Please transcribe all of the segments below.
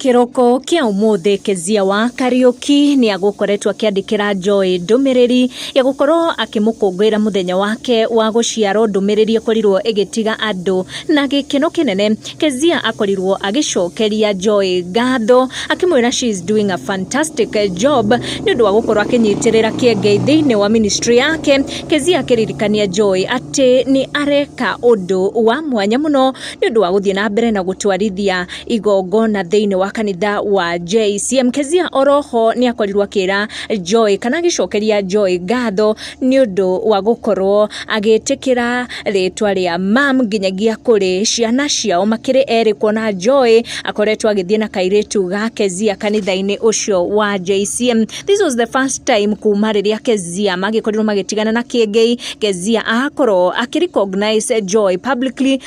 Kĩroko kĩa ũmũthĩ Kezia wa Kariũki nĩ agũkoretwo akĩandĩkĩra Joy ndũmĩrĩri ya gũkorwo akĩmũkũngũĩra mũthenya wake wa gũciarwo, ndũmĩrĩri ĩkorirwo ĩgĩtiga andũ na gĩkeno kĩnene. Kezia akorirwo agĩcokeria Joy ngatho akĩmwĩra she is doing a fantastic job nĩ ũndũ wa gũkorwo akĩnyitĩrĩra kĩengei thĩinĩ wa ministry yake. Kezia akĩririkania Joy atĩ nĩ areka ũndũ wa mwanya mũno nĩ ũndũ wa gũthiĩ na mbere na gũtwarithia igongona thĩinĩ wa kanitha wa JCM. Kezia oroho nĩ akorirwo akĩra Joy kana agĩcokeria Joy ngatho nĩ ũndũ wa gũkorwo agĩtĩkĩra rĩtwa rĩa mam nginyagia kũrĩ ciana ciao makĩrĩ erĩ kuona Joy akoretwo agĩthiĩ na kairĩtu ga Kezia kanitha-inĩ ũcio wa JCM. This was the first time kuma rĩrĩa Kezia magĩkorirwo magĩtigana na Kĩengei, Kezia akorwo akĩ recognize Joy publicly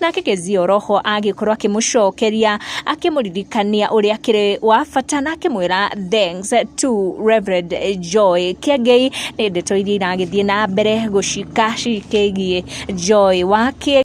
Nake Kezia Roho agĩkorwo akĩmũcokeria akĩmũririkania ũrĩa akĩrĩ wa bata na akĩmwĩra thanks to Reverend Joy Kĩengei nĩ ndeto iria iragĩthiĩ na mbere gũcika cikĩgiĩ Joy wa Kĩengei